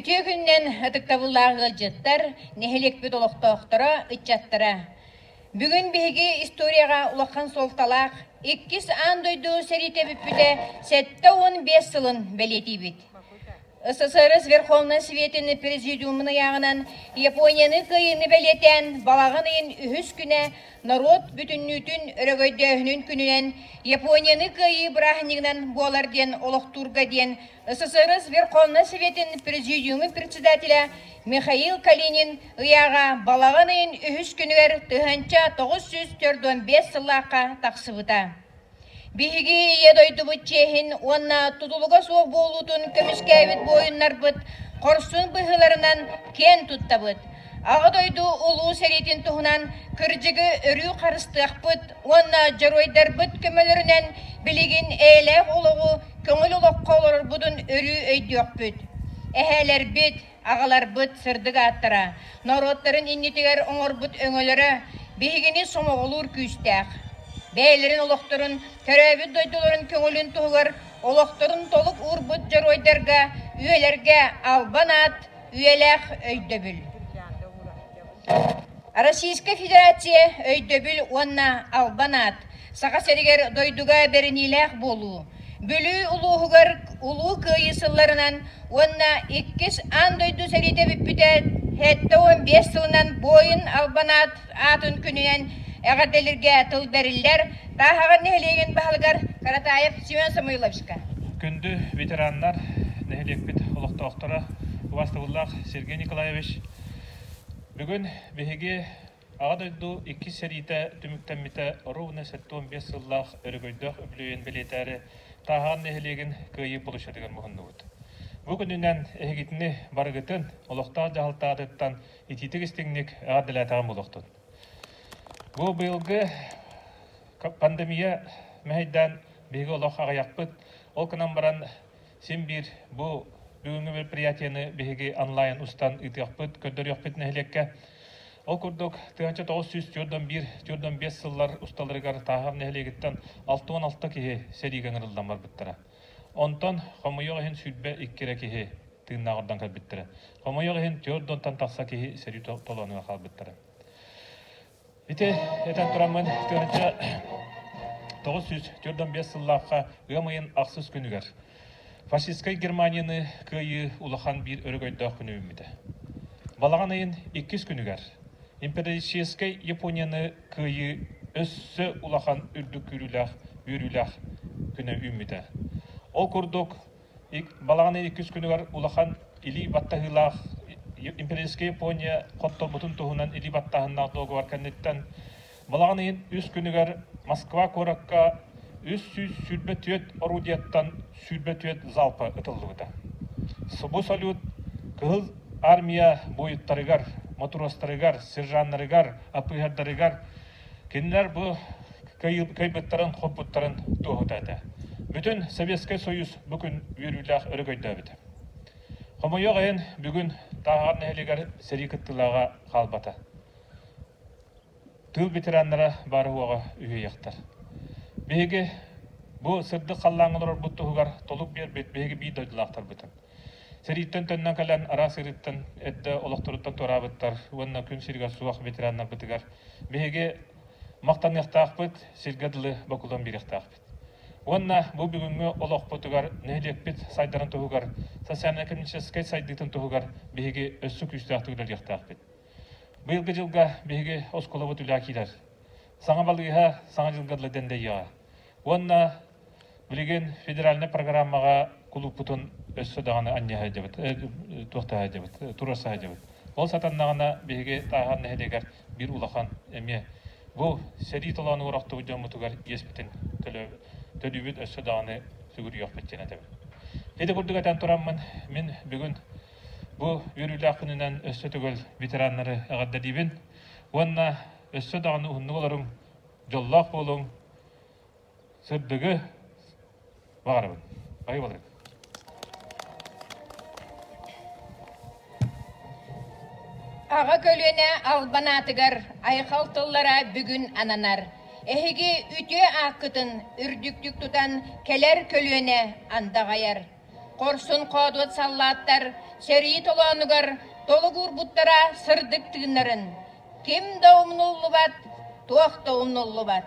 Үтүө күннэн ытыктабыллаах ыалдьыттар, нэһилиэкпит олохтоохторо, ыччаттара! Бүгүн биһиги историяҕа улахан суолталаах иккис аан дойду сэриитэ бүппүтэ сэттэ уон биэс сылын бэлиэтиибит. СССР Верховнай Сүветин Президиумун ыйааҕынан Японияны кыайыыны бэлиэтээн балаҕан ыйын үһүс күнэ норуот бүтүннүүтүн өрөгөйдөөһүнүн күнүнэн Японияны кыайыы бырааһынньыгынан буолар диэн олохтуурга диэн СССР Верховнай Сүветин Президиумун председателэ Михаил Калинин ыйааҕа балаҕан ыйын үһүс күнүгэр тыһыынча тоҕус сүүс төрт уон биэс сыллаахха тахсыбыта. Биһиги Ийэ дойдубут чиэһин уонна тутулуга суох буолуутун көмүскээбит буойуннарбыт хорсун быһыыларынан киэн туттабыт. Аҕа дойду Улуу сэриитин туһунан кырдьыгы өрүү харыстыахпыт уонна дьоруойдарбыт көмөлөрүнэн билигин эйэлээх олоҕу, көҥүл олоххо олорорбутун өрүү өйдүөхпүт. Эһээлэрбит, Аҕаларбыт сырдык ааттара норуоттарын иннитигэр оҥорбут өҥөлөрө биһигини сомоҕолуур күүстээх. Бэйэлэрин олохторун, төрөөбүт дойдуларын көҥүлүн туһугар олохторун толук уурбут дьоруойдарга, үйэлэргэ албан аат, үйэлээх өйдөбүл. Российскай Федерация өйдөбүл уонна албан аат Саха сиригэр дойдуга бэриниилээх буолуу Бүлүү улууһугар Улуу Кыайыы сылларынан уонна иккис аан дойду сэриитэ бүппүтэ сэттэ уон биэс сылынан буойун албан аат аатын күнүнэн эҕэрдэлиргэ тыл бэриллэр Тааһаҕар нэһилиэгин баһылыгар Каратаев Семен Самойловичка. Күндү ветераннар, нэһилиэкпит олохтоохторо, убастабыллаах Сергей Николаевич Бүгүн биһиги Аҕа дойду иккис сэриитэ түмүктэммитэ ровно сэттэ уон биэс сыллаах өрөгөйдөөх үбүлүөйүн бэлиэтээри Тааһаан нэһилиэгин Кыайыы быруччатыгар муһуннубут. Бу күнүнэн эһигитини барыгытын олохтоох дьаһалтаҕытыттан итиитик-истиҥник эҕэрдэлээтэҕим буолуохтун. Бу быйылгы пандемия мэһэйдээн биһиги олох аҕыйахпыт, ол гынан баран Син биир бу бүгүҥҥү мероприятиены биһиги онлайн устан ыытыахпыт, көрдөрүөхпүт нэһилиэккэ. Ол курдук, тыһыынча тоҕус сүүс түөрт он биир, түөрт он биэс сыллар усталарыгар Таахап нэһилиэгиттэн алта уон алта киһи сэриигэ ыҥырыллан барбыттара. Онтон хомойуох иһин сүүрбэ икки эрэ киһи тыыннаах ордон кэлбиттэрэ. Хомойуох иһин түөрт уонтан тахса киһи сэрии толонуга хаалбыттара. Ити этэн тураммын тыһыынча тоҕус сүүс төрт он биэс сыллаахха ыам ыйын ахсыс күнүгэр фашистскай Германияны кыайыы улахан биир өрөгөйдөөх күнү үүммүтэ. Балаҕан ыйын иккис күнүгэр империалистическай Японияны кыайыы өссө улахан үрдүк күүрүүлээх үөрүүлээх күнэ үүммүтэ. Ол курдук Балаҕаны иккис күнүгэр улахан илии баттаһыылаах Империйская Япония хотторбутун туһунан илии баттааһыннаах дуогабар кэнниттэн балаҕан ыйын үс күнүгэр Москва куоракка үс сүүс сүүрбэ түөрт орудияттан сүүрбэ түөрт залпа ытыллыбыта. Субу салют Кыһыл Армия буойуттарыгар, матростарыгар, сержаннарыгар, АПХРдарыгар Кинилэр бу кыайбыттарын, хоппуттарын туоһута этэ. Бүтүн Советскай Союз бу күн үөрүүлээх өрөгөйдөөбүт. Хомойуох иһин, бүгүн Тааһар нэһилиэгэр сэрии кыттыылааҕа хаалбата. Тыыл ветераннара баар уоҕа үһүйэхтэр. Биһиги бу сырдык халлааҥҥа олорорбут туһугар толук биэрбит биһиги биир дойдулаахтарбытын, Сэрииттэн төннөн кэлэн араас сырыыттан эрдэ олохторуттан туораабыттар уонна күн сиригэр суох ветераннарбытыгар биһиги махтаныахтаахпыт, сиргэ дылы бокулуон биэриэхтээхпит. Уонна бу бүгүҥҥү олохпутугар, нэһилиэкпит сайдарын туһугар, социально-экономическай сайдыытын туһугар биһиги өссө күүстээхтик үлэлиэхтээхпит. Быйылгы дьылга биһиги оскуолабыт үлэ киирэр. Саҥа балыыһа саҥа дьылга дылы дэндэйиэҕэ. Уонна Билигин федеральнай программаҕа кулууппутун өссө даҕаны анньа сылдьабыт, туох да сылдьабыт, тура сылдьабыт. Ол сатаннаҕына биһиги Тааһан нэһилиэгэр биир улахан эмиэ бу сэрии толоон уорахтыбыт дьоммутугар иэспитин төлүүбүт өссө даҕаны сүгүрүйүөхпүт диэн этэбин. Ити курдук этэн тураммын, мин бүгүн бу үөрүүлээх күнүнэн өссө төгөл ветераннары эҕэрдэлиибин уонна өссө даҕаны уһуннук олоруҥ, дьоллоох буолуҥ, Сөрдүгү баҕарабын. Байы балырын. Аҕа көлүөнэ албан аатыгар айхал тыллара бүгүн ананар. Эһиги үтүө ааккытын үрдүктүк тутан кэлэр көлүөнэ андаҕайар. Хорсун хоодуот саллааттар сэрии толоонугар толук уурбуттара сырдык тыыннарын, ким да умнуллубат, туох да умнуллубат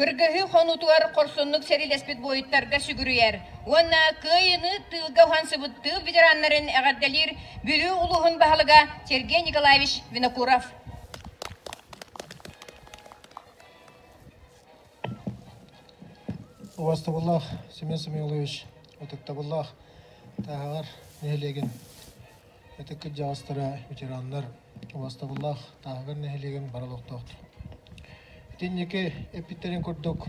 Кыргыһыы хонуутугар хорсуннук сэриилэспит буойуттарга сүгүрүйэр уонна кыайыыны тыылга уһансыбыттыы ветераннарын эҕэрдэлиир Бүлүү улууһун баһылыга Сергей Николаевич Винокуров. Убастабыллаах Семен Семенович, ытыктабыллаах тааһаҕар нэһилиэгин ытык кырдьаҕастара, ветераннар, убастабыллаах тааһаҕар нэһилиэгин бара олохтоохтор. Итинники эппиттэрин курдук,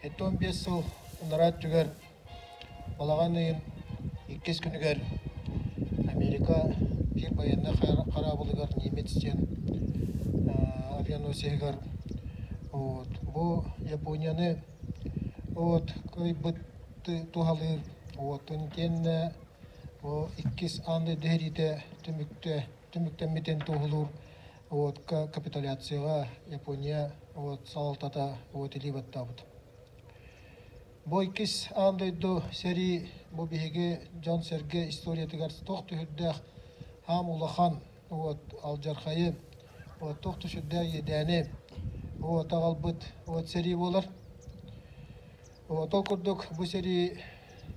жети он биэс сыл анараа өттүгэр Балаҕан ыйын иккис күнүгэр Америка биир байыаннай хараабылыгар немец диэн авианосеһыгар вот бу Японияны вот кыайбыты туһалыыр буотун итиэннэ бу иккис аан дойду сэриитэ түмүктэ түмүктэммитин туоһулуур уотка капитуляцияҕа Япония вот салалтата вот илии баттаабыт Бу иккис аан дойду сэрии бу биһиги дьон-сэргэ историятыгар туох да сүрдээх аам улахан вот алдьархайы, вот туох да сүрдээх иэдээни вот аҕалбыт вот сэрии буолар. Вот ол курдук бу сэрии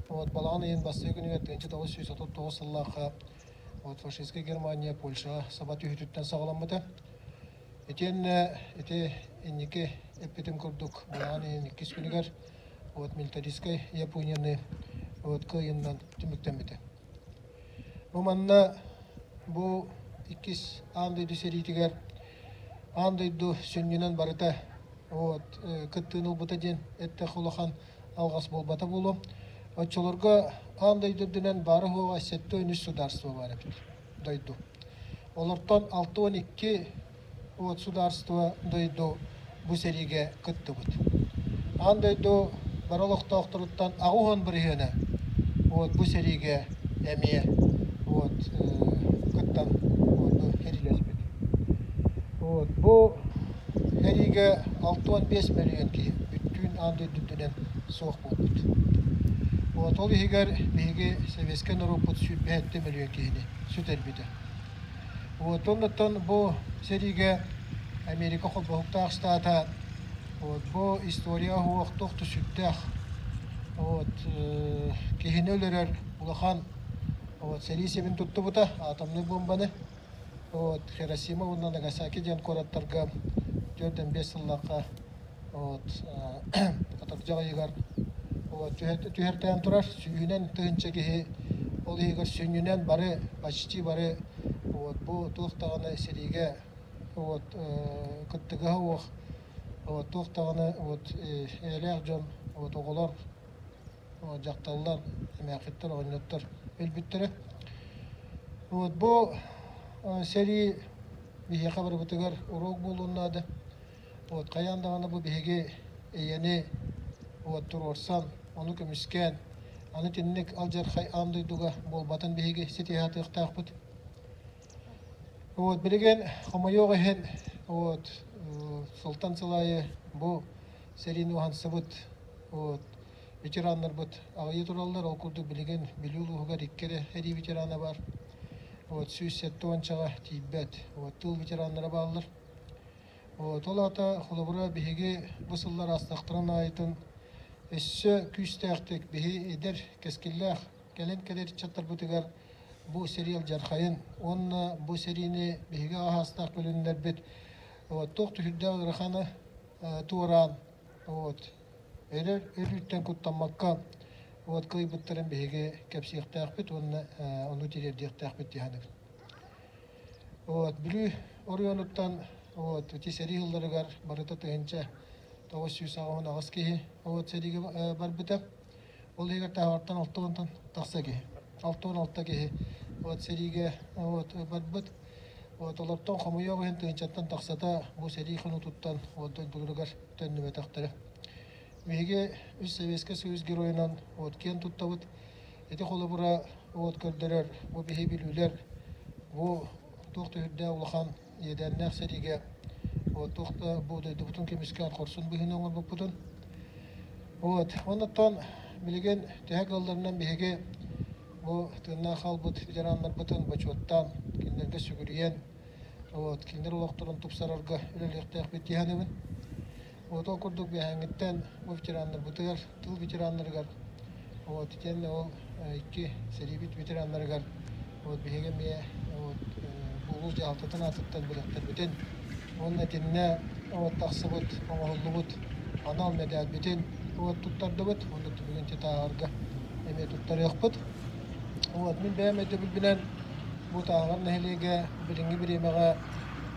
вот балаҕан ыйын бастакы күнүгэр 1939 сыллаахха вот фашистская Германия Польшаҕа саба түһүүтүттэн саҕаламмыта. Итиэннэ ити инники эппитим курдук быйаҥан иһин иккис күнүгэр вот милитаристскай Японияны вот кыайынынан түмүктэммитэ. Бу манна бу иккис аан дойду сэриитигэр аан дойду сүнньүнэн барыта вот кыттыыны ылбыта диэн эттээх улахан алҕас буолбата буолуо. Оччолорго аан дойду үрдүнэн баара-суоҕа сэттэ-үс судаарыстыба баар эбит. дойду. Олортон алта уон икки уот судаарство дойду бу сэриигэ кыттыбыт. Аан дойду бары олохтоохторуттан аҕыс уон бырыһыана уот бу сэриигэ эмиэ уот кыттан уоту херилэрбит. Уот бу сэриигэ алта уон биэс мөлүйүөн киһи бүттүүн аан дойду үрдүнэн суох уоппут. От ол иһигэр биһиги сэбиэскэй норуоппут сүүрбэһит мөлүйүөн киһини сүтэрбитэ. От оннуттан бу сэриигэ Америка холбоһуктаах штата от бу историяҕа уһуох туох да сүрдээх. От киһини өлөрөр улахан от сэрии сибин туттубута атомнай буомбаны. От Хиросима уонна Нагасаки диэн куораттарга төрдөн биэс сыллаахха вот катардьа ыйыгар түһэртээн турар сүүһүнэн тыһыынча киһи ол иһигэр сүнньүнэн бары почти бары вот бу туох даҕаны сэриигэ вот кыттыгаһа суох вот туох даҕаны вот эйэлээх дьон вот оҕолор дьахталлар эмээхситтэр оҕонньоттор өлбүттэрэ вот бу сэрии биһиэхэ барыбытыгар уруок буолуон наада От хайаан даҕаны бу биһиги ийэни уот туруорсан, ону көмүскээн, аны итинник алдьархай аан дойдуга буолбатын биһиги ситиһэ сатыахтаахпыт. Вот, билигин хомойуох иһин, вот, сылтан сыл аайы бу сэриини уһансыбыт вот, ветераннарбыт аҕыйыы тураллар, ол курдук билигин Бүлүү улууһугар икки эрэ эрии ветерана бар. Вот, сүүс сэттэ уончаҕа тиийбэт вот, тыл ветераннара бааллар. Ол аата, холобура, биһиги бу сыллар аастахтаран аайытын өссө күүстээхтик биһи эдэр кэскиллээх кэлин кэлэр ыччаттарбытыгар бу сериал дьархайын уонна бу серийни биһиги аһаастаах бөлүннэрбит туох түһүрдээх ыараханы туораан вот өрөр өрүттэн куттаммакка вот кыайбыттарын биһиги кэпсиэхтээхпит уонна ону тириэрдиэхтээхпит диһаныбын Вот, Бүлүү оройуонуттан вот, ити сэрии сылларыгар барыта тыһыынча тоҕус сүүс аҕыһын аҕыс киһи вот, сэриигэ барбыта. Ол иһигэр таһаартан алта уонтан тахса киһи, алта уон алта киһи вот, сэриигэ вот, барбыт. Вот, олортон хомуйуох иһин тыһыынчаттан тахсата бу сэрии хонуутуттан вот, дойдуларыгар төннүбэтэхтэрэ. Биһиги үс Сэбиэскэй Союз геройунан от киэн туттабыт. Ити холобура от көрдөрөр, бу биһи билүүлэр, бу туох да үрдээх улахан иэдээннээх сэриигэ вот туох да бу дойдубутун көмүскээн хорсун быһыыны оҥорбуппутун. Вот оннуттан билигин төһө кылларынан биһиги бу тыыннаах хаалбыт ветераннарбытын бочуоттаан кинилэргэ сүгүрүйэн вот кинилэр олохторун тупсарарга үлэлиэхтээхпит диһаныбын. Отол курдук биэһээҥҥиттэн бу ветераннарбытыгар, тыл ветераннарыгар, вот, итиэннэ ол икки сэриибит ветераннарыгар вот, биһиги эмиэ вот, улуус дьаһалтатын аатыттан бэлэхтэрбитин уонна итиннэ вот, тахсыбыт, оҥоһуллубут анал мэдээлбитин вот, туттардыбыт уонна бүгүн титааҕарга эмиэ туттарыахпыт. Вот, мин бэйэм өйдөбүлбүнэн бу Тааҕар нэһилиэгэ билиҥҥи бириэмэҕэ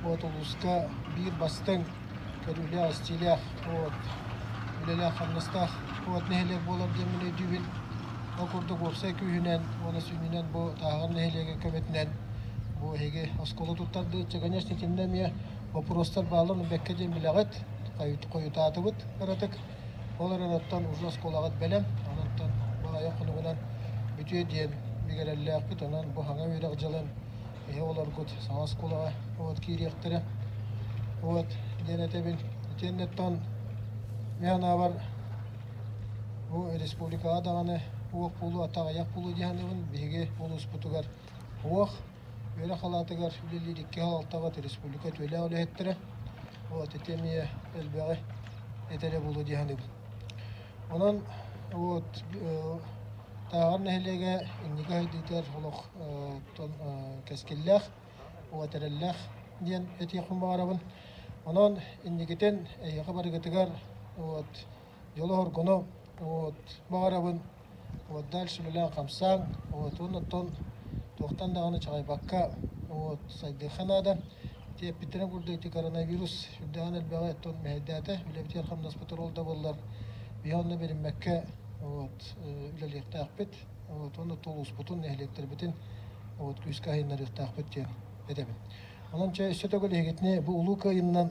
вот улууска биир бастыҥ көрүүлээх, истиилээх вот, үлэлээх-хамнастаах вот нэһилиэк буолар диэн мин өйдүүбүн. Ол курдук уопсай күүһүнэн уонна сүнньүнэн бу Тааҕар нэһилиэгэ көмөтүнэн бу эһиги оскуола туттардыытча, конечно, итиннэ эмиэ боппуруостар баалларын бэккэ диэн билэҕит, хойутаатыбыт ыратык. Ол эрэнэттэн уже оскуолаҕыт бэлэм, онон бу айан хонугунан бүтүө диэн бигэрэллээхпит. Онон бу саҥа үөрэх дьылын Эһи олоргут саҥа оскуолаҕа вот киириэхтэрэ. Вот диэн этэбин. Итиэннэттэн мен анаабар бу республикаҕа даҕаны уох пулу атаҕыйах пулу дии саныыбын биһиги улууспутугар уох үөрэх алаатыгар үлэлиир икки аһаалтабыт республика түөлээх үлэһиттэрэ вот ити эмиэ элбэҕи этэрэ буолуо дии саныыбын онон вот тааҕар нэһилиэгэ инники сайдыытыгар олох кэскиллээх, уот эрэллээх диэн этиэхпин баҕарабын. Онон инникитин эйиэхэ барыгытыгар вот дьолу хоргуну вот баҕарабын. Вот дальше үлэлээн хамсааҥ, вот оннуттан туохтан даҕаны чаҕайбакка вот сайдыахха наада. Тиэппиттэрин курдук ити коронавирус үрдэҕин элбэҕи оттон мэһэйдээтэ, үлэбитигэр хамнаспыт ол да буоллар, биһи онно бэриммэккэ вот үлэлиэхтээхпит. уонна тулуспутун, нэһилиэктэрбитин вот күүскэ айаннарыахтаахпыт диэн этэбин. Онон чэ өссө төгүл эһигитини бу улуу кыайынынан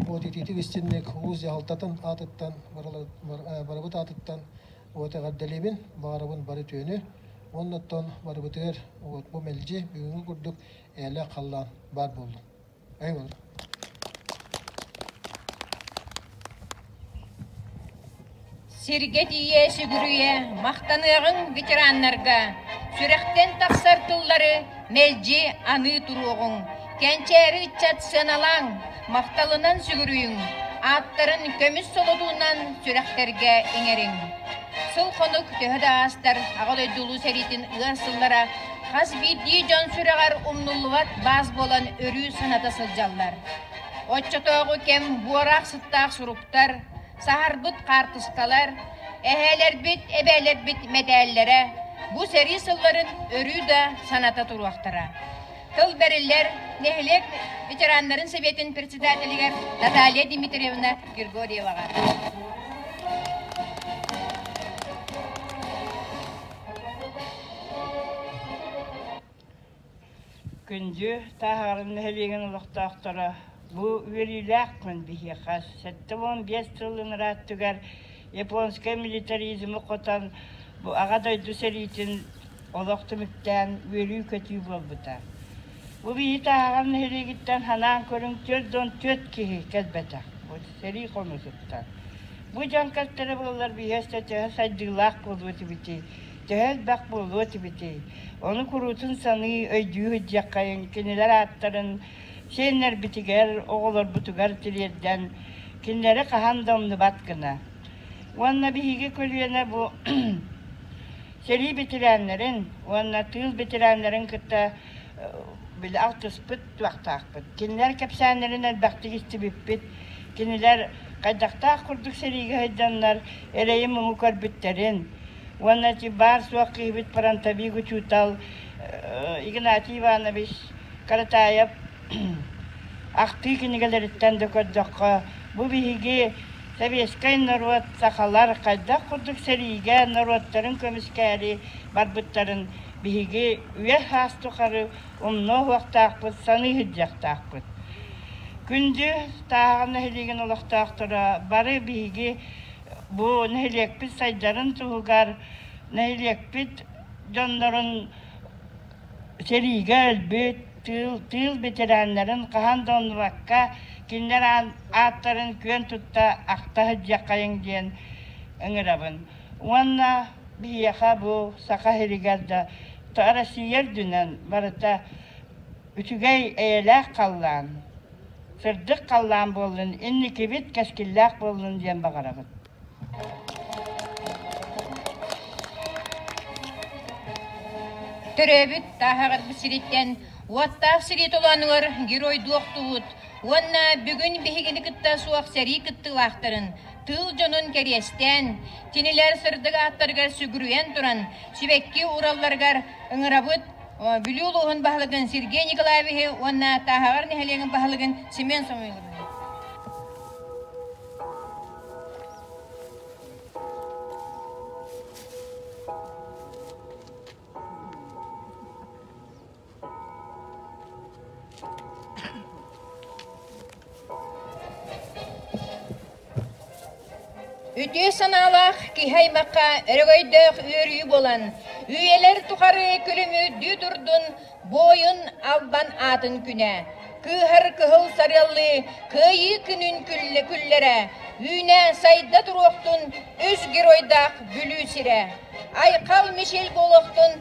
вот итиитик истинник улуус дьаһалтатын аатыттан барыбыт аатыттан вот эҕэрдэлиибин баарыбын бары түөнү уонна оттон барыбытыгар вот бу мэлдьи бүгүҥҥү курдук ээлээх халлаан баар буоллун Сиргэ тиийэ сүгүрүйэ махтаныаҕыҥ ветераннарга. Сүрэхтэн тахсар тыллары мэлдьи аныы туруоҕуҥ. Кэнчээри ыччат сыаналааҥ, махталынан сүгүрүйүҥ, ааттарын көмүс солотуунан сүрэхтэргэ иҥэриҥ. Сыл-хонук төһө да аастар Аҕа дойду Улуу сэриитин ыар сыллара Хас биирдии дьон сүрэҕэр умнуллубат баас буолан өрүү саната сылдьаллар. Оччотооҕу кэм буораах-сыттаах суруктар, саһарбыт хаартыскалар, эһээлэрбит, эбээлэрбит мэтээллэрэ бу сэрии сылларын өрүү да саната туруохтара. Тыл бэриллэр нэһилиэк ветераннарын сэбиэтин председателигэр Наталья Дмитриевна Григорьеваҕа. Күндү Тааһаҕарын нэһилиэгин олохтоохторо, бу үөрүүлээхпин биһиэхэ сэттэ уон биэс сылын ырааттыгар японскай милитаризмы хотон бу Аҕа дойду сэриитин олох түмүктээн үөрүү-көтүү буолбута. Бу биһиэхэ Ааҕар нэһилиэгиттэн ханаан көрүҥ түөрт уон түөрт киһи кэлбэтэх. Бу сэрии хомусуттан. Бу дьон кэлтэрэ буоллар биһиэстэ төһө сайдыылаах буолуо этибитий, төһө элбэх буолуо этибитий, ону куруутун саныы, өйдүү сылдьыаххайыҥ, кинилэр ааттарын сиэннэрбитигэр, оҕолорбутугар тириэрдэн, кинилэри хаһан да умнубат гына. Уонна биһиги көлүөнэ бу сэрии бэтэрээннэрин уонна тыыл бэтэрээннэрин кытта били алтыспыт туохтаахпыт. Кинилэр кэпсээннэрин элбэхтик истибиппит. Кинилэр хайдахтаах курдук сэриигэ сылдьаннар эрэйи-муҥу көрбүттэрин уонна ити баар-суох киһибит фронтовик учуутал Игнатий Иванович Каратаев ахтыы кинигэлэриттэн да көрдөххө бу биһиги советскай норуот сахалар хайдах курдук сэриигэ норуоттарын көмүскээри барбыттарын Биһиги үөс-һаас тухары умнуо уһуохтаахпыт, саныы сылдьыахтаахпыт. Күндү Тааҕа нэһилиэгин олохтоохторо, бары биһиги бу нэһилиэкпит сайдарын туһугар, нэһилиэкпит дьоннорун сэриигэ өлбүт, тыыл, тыыл бэтэрээннэрин хаһан да умнубакка кинилэр ааттарын күөн тутта ахта сылдьыаххайыҥ диэн ыҥырабын. Уонна биһиэхэ бу Саха сиригэр да Россия үрдүнэн барыта үчүгэй эйэлээх халлаан, сырдык халлаан буоллун, инникибит кэскиллээх буоллун диэн баҕарабыт. Төрөөбүт Таһаҕырбыт сириттэн уоттаах сирии толоонугар геройдуохтуут уонна бүгүн биһигини кытта суох сэрии кыттыылаахтарын тыыл дьонун кэриэстээн, кинилэр сырдык ааттарыгар сүгүрүйэн туран, сибэкки ууралларыгар ыҥырабыт Бүлүү улууһун баһылыгын Сергей Николаевиһы уонна Тааһаҕар нэһилиэгин баһылыгын Семен Самойловны. Үтүө санаалаах киһи-аймахха өрөгөйдөөх үөрүү буолан, үйэлэр тухары күлүмүрдүү турдун буойун Албан аатын күнэ, кыыһар кыһыл сарыаллыы кыайыы күнүн күллэрэ, үүнэ сайда туруохтун үс геройдаах бүлүү сирэ, Айхал Мишель буолуохтун